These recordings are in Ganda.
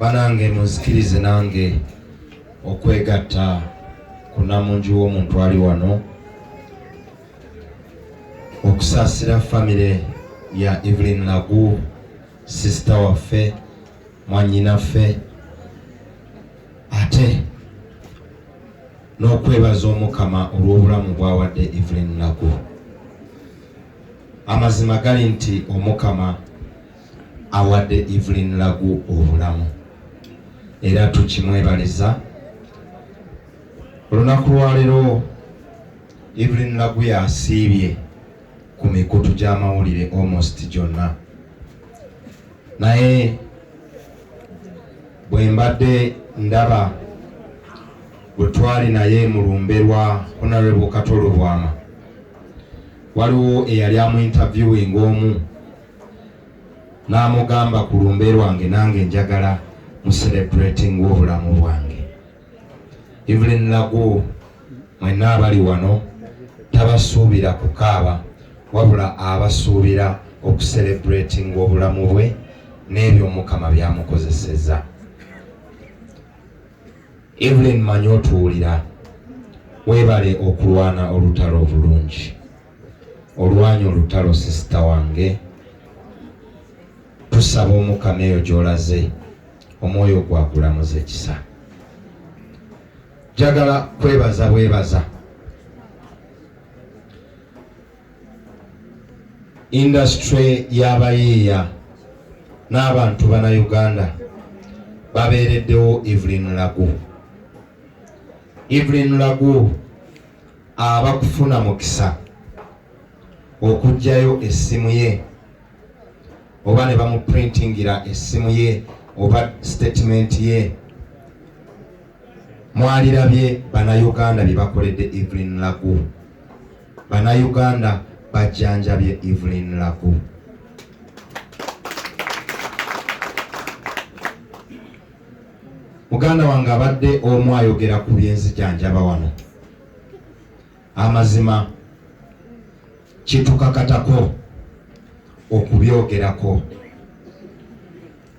banange munzikirize nange okwegatta ku namungi w'omuntu ali wano okusaasira famire ya Evelyn Lagu sisita waffe mwanyinaffe ate n'okwebaza omukama olw'obulamu bwawadde evelyn lagu amazima gali nti omukama awadde evelyn lagu obulamu era tukimwebaliza olunaku lwaleero evelyn lagu yasiibye ku mikutu gy'amawulire almost gyonna naye bwe mbadde ndaba bwe twali naye mu lumbe lwa honorable katolo bwama waliwo eyali amu interviewing omu n'amugamba ku lumbe lwange nange njagala mu celebrating obulamu bwange Evelyn Lagu mwenna abali wano tabasuubira kukaaba wabula abasuubira okuserebratinga obulamu bwe n'ebyo Mukama byamukozeseza. Evelyn manyi otuwulira, webale okulwana olutalo obulungi. Olwanya olutalo sisita wange, tusaba Omukama eyo gy'olaze omwoyo gwakulamuza ekisa njagala kwebaza bwebaza indasitule y'abayiiya n'abantu bana uganda babeereddewo evelyn lagu evelyn lagu aba kufuna mukisa okugjayo essimu ye oba ne bamuprintingira essimu ye oba sitatimenti ye mwalirabye banauganda bye bakoledde evelyn lagu banauganda bajjanjabye evelyn lagu muganda wange abadde omu ayogera ku byenzijanjaba wano amazima kitukakatako okubyogerako.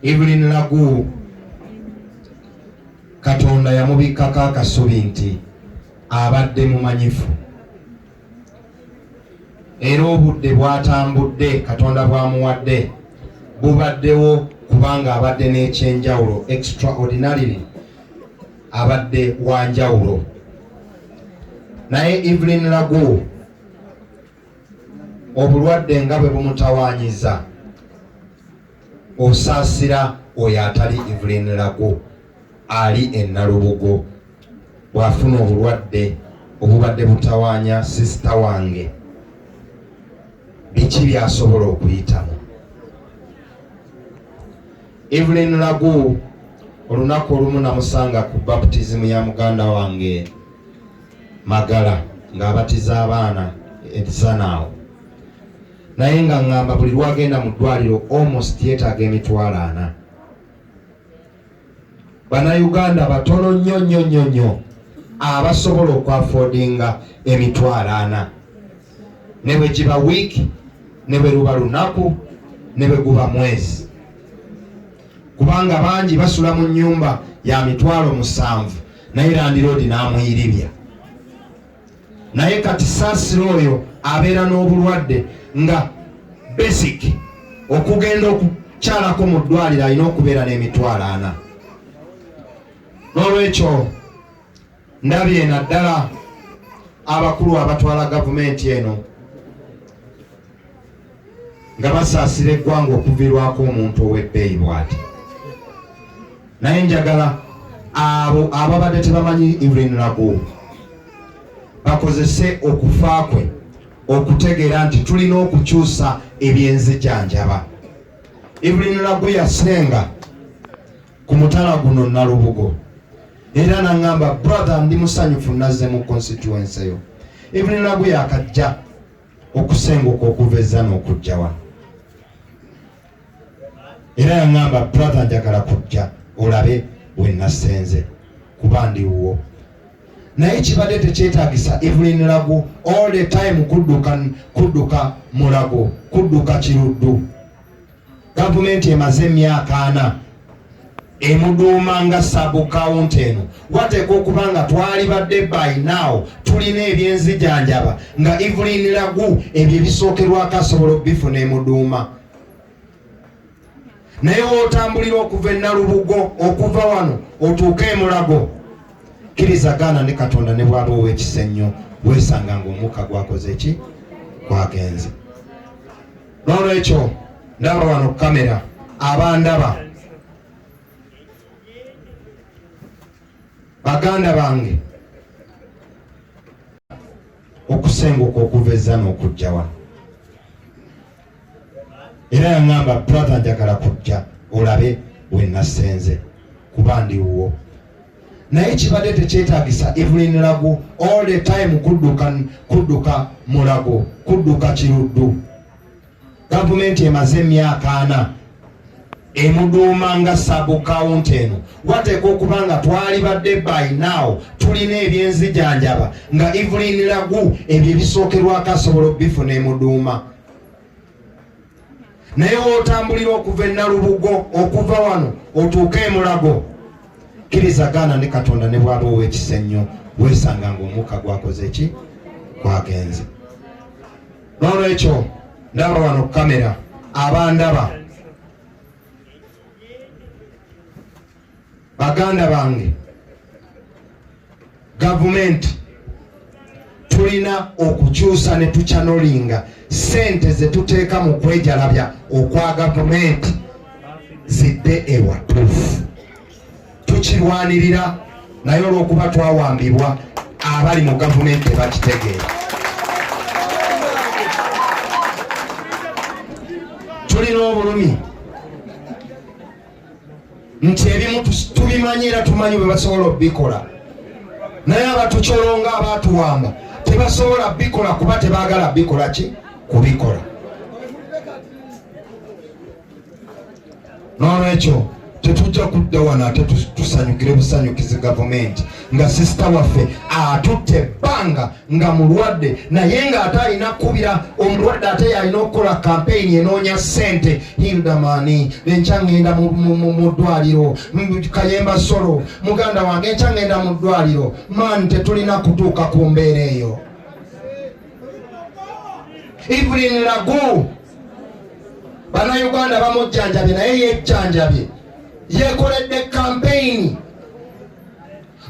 Evelyn Lagu Katonda yamubikkako akasubi nti abadde mumanyifu era obudde bwatambudde Katonda bwamuwadde bubaddewo kubanga abadde n'ekyenjawulo extraordinarily abadde wanjawulo naye Evelyn Lagu obulwadde nga bwe bumutawaanyiza osaasira oyo atali Evelyn Lagu ali e Nalubugo bw'afuna obulwadde obubadde butawaanya sisita wange biki byasobola okuyitamu Evelyn Lagu olunaku olumu namusanga ku baptism ya muganda wange Magala ng'abatiza abaana etisana awo naye nga ngamba buli lwagenda mu ddwaliro almost yetaaga emitwalo ana banauganda batono nnyo nnyo nnyo nnyo abasobola okwafodinga emitwalo ana ne bwe giba wiiki ne bwe luba lunaku ne bwe guba mwezi kubanga bangi basula mu nyumba ya mitwalo musanvu naye landiroodi n'amuyiribya naye kati saasira oyo abeera n'obulwadde nga basic okugenda okukyalako mu ddwaliro alina okubeera n'emitwalo ana n'olwekyo ndabye naddala abakulu abatwala gavumenti eno nga basaasira eggwanga okuvirwako omuntu ow'ebbeeyi bwati naye njagala abo ababadde tebamanyi Evelyn Lagu bakozese okufa kwe okutegeera nti tulina okukyusa ebyenzijanjaba Evelyn Lagu yasenga ku mutala guno Nalubugo era nangamba brother ndi musanyufu nazze mu constituency yo Evelyn Lagu yakajja okusenguka okuva ezzana okujja wano era yaŋamba brother njagala kujja olabe wenasenze kuba ndi wuwo naye kibadde tekyetagisa evelyn lagu all the time kudduka kudduka mulago kudduka kiruddu gavumenti emaze emyaka ana emuduuma nga sabukawunti eno wateeka okuba nga twalibadde by now tulina ebyenzijanjaba nga evelin lagu ebyo ebisookerwako asobola okubifuna emuduuma naye wotambulira okuva enalubugo okuva wano otuuke emulago kkiriza gaana ne katonda ne bwaba owekisa ennyo wesanga ngaomukka gwakoze ki gwagenze n'olwekyo ndaba wano ku kamera abandaba baganda bange okusenguka okuva ezza n'okujja wano era yaŋamba brother njagala kujja olabe wenasenze kuba ndiwuwo naye kibadde tekyetagisa evelyn lagu all the time kudduka kudduka mulago kudduka kiruddu gavumenti emaze emyaka ana emuduuma nga sabukawunti eno wateeka okuba nga twalibadde by now tulina ebyenzijanjaba nga evelyn lagu ebyo ebisookerwako asobola okubifuna emuduuma naye wotambulira okuva enalubugo okuva wano otuuke emulago kkiriza gaana ne katonda ne bwaba owekisa ennyo wesanga nga omukka gwakoze ki gwagenze nolwekyo ndaba wano kukamera abandaba baganda bange gavumenti tulina okukyusa ne tukyanolinga sente zetuteeka mu kwejalabya okwa gavumenti zidde ewatuufu tukirwanirira naye olwokuba twawambibwa abali mu gavumenti tebakitegeera tulina obulumi nti ebimu tubimanyi era tumanyi bwe basobola okubikola naye abatucolonga abatuwamba tebasobola bikola kuba tebagala bikola ki kubikola nolwekyo tetujja kudda wano ate tusanyukire busanyukizi gavumenti nga sisita waffe atutte ebbanga nga mulwadde naye ng'ate alina kukubira omulwadde ate yalina okukola kampeyini enoonya ssente hildamani enkya ŋŋenda mu ddwaliro kayemba solo muganda wange enkya ŋŋenda mu ddwaliro maani tetulina kutuuka ku mbeera eyo evelyn lagu banauganda bamujjanjabye naye yejjanjabye yekoledde kampeyini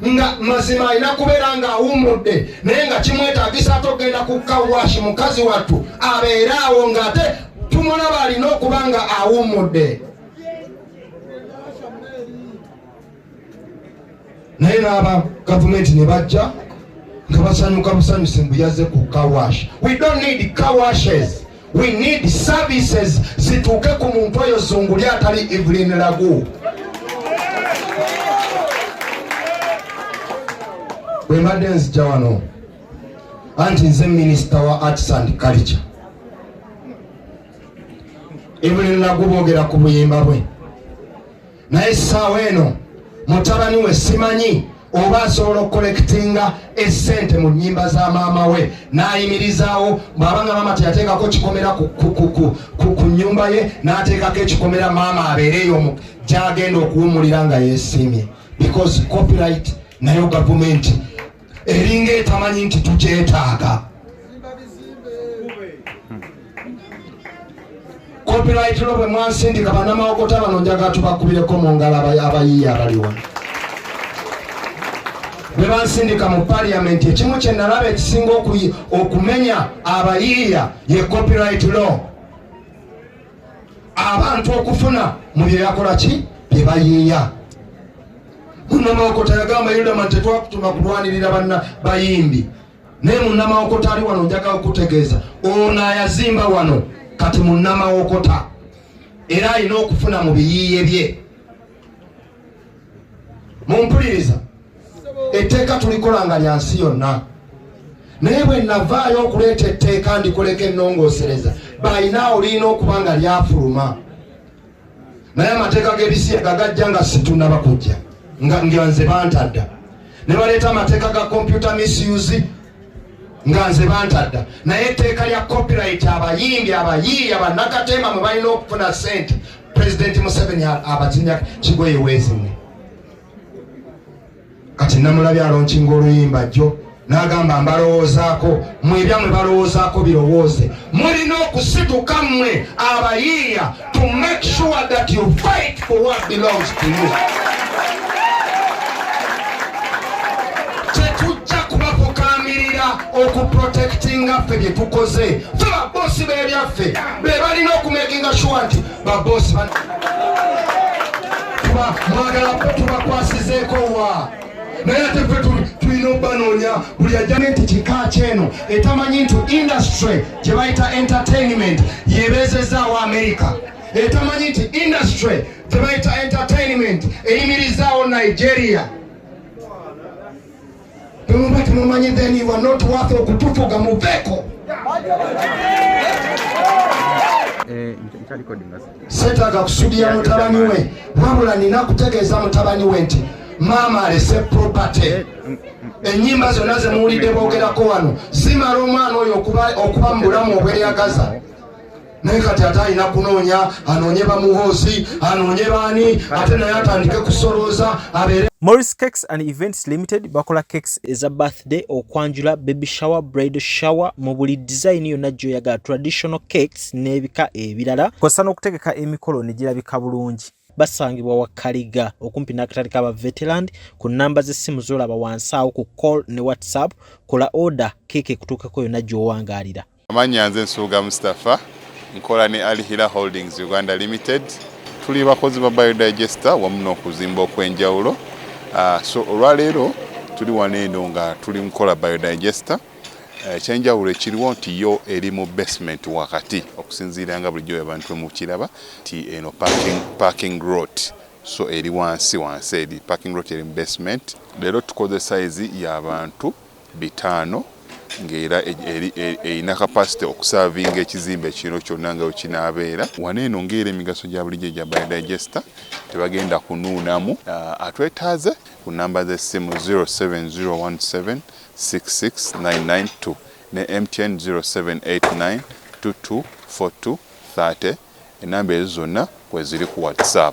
nga mazima alina kubeera ng'awummudde naye nga kimwetagisa ate okugenda ku kawashi mukazi wattu abeere awo ng'ate tumulaba alina okuba nga awummudde naye n'aba gavumenti ne bajja nga basanyuka busanyusi mbu yaze ku kawashi we don't need kawashes we need services zituuke ku muntu oyo zunguli atali evelyn lagu bwembadde nzija wano anti nze minisita wa arts and culture evelyn lagu boogera ku buyimba bwe naye essaawa eno mutabani we simanyi oba asobola okukolekitinga esente mu nyimba za maama we nayimirizaawo bwabanga maama teyateekako kikomera ku nyumba ye nateekako ekikomera maama abeereyo gyagenda okuwumulira nga yesiimye because copyright nayo gavumenti eringa etamanyi nti tukyetaaga copyright lo bwe mwansindika banamawokota bano njaga tubakubireko mu ngalo abayiiya abaliwa bwe bansindika mu paliyamenti ekimu kye nalaba ekisinga okumenya abayiiya ye copyright law abantu okufuna mu byeyakola ki bye bayiiya munamawokota yagamba yudama nti tetwakutuma kulwanirira banna bayimbi naye munamawokota ali wano njaga okutegeeza ono ayazimba wano kati munamawokota era alina okufuna mu biyiiye bye mumpuliriza etteeka tulikola nga lya nsi yonna naye bwe navaayo okuleeta etteeka ndikoleka ennongoosereza balina olirina okuba nga lyafuluma naye amateeka g'ebisiyaga gajja nga situnaba kujja nga nze bantadda ne baleeta amateeka ga kompyuta misuse nga nze bantadda naye etteeka lya copyright abayimbi abayiiya bannakateema mwe balina okufuna sente pulezidenti museveni abazinya kigoye weezimwe kati namulabi alonkinga oluyimba jjo n'agamba mbalowoozaako mwe ebyamwe balowoozaako birowooze mulina okusituka mmwe abayiiya to make sure that you fight for what belongs to you. Tetujja kubafukaamirira okuprotectinga ffe bye tukoze fe baboosi b'ebyaffe be balina okumekinga sure nti baboosi mwagala tubakwasizeeko wa naye ate fe tulina obanoonya buli ajjane nti kika kyeno etamanyi nti industry gye bayita entertainment yebeezezaawo amerika etamanyi nti industry gye bayita entertainment eyimirizaawo nigeria temuba temumanyi then you are not worth okutufuga muveeko eh, setaga kusudira mutabani we wabula nina kutegeeza mutabani we nti maama alese property enyimba zonna zemuwulidde bogerako wano zimala omwana oyo okuba mu bulamu obweyagaza naye kati ate alina kunoonya anoonye bamuhoozi anoonye baani ate naye atandike kusolooza abeere Morris Cakes and Events Limited bakola cakes eza birthday birthday okwanjula baby shower bridal shower mu buli design yonna gyoyagala traditional cakes n'ebika ebirala kosa n'okutegeka emikolo ne girabika bulungi basangibwa wa kaliga okumpi n'akatale ka baveteland ku nnamba z'essimu z'olaba wansi awo ku call ne whatsapp kola oda keeka ekutuukeko yonna gy'owangaalira Amannya nze Nsubuga Mustafa nkola ne Alihira Holdings Uganda Limited. Tuli bakozi ba Biodigester wamu n'okuzimba okwenjawulo. Ah, so olwaleero tuli wano eno nga tuli mukola Biodigester. Eh, ekyenjawulo ekiriwo nti yo eri mu basement wakati okusinziira nga bulijjo abantu mukiraba nti eno parking rot so eri wansi wansi eri parking rot eri mu basement. Leero tukoze sayizi y'abantu bitaano ng'era erina kapasite okusaavinga ekizimbe kino kyonna nga wekinaabeera. Wano eno ng'era emigaso gya bulijjo egya Biodigester tebagenda kunuunamu. Atwetaaze ku nnamba z'essimu 0701766992 ne MTN 0789224230 ennamba ezo zonna kweziri ku WhatsApp.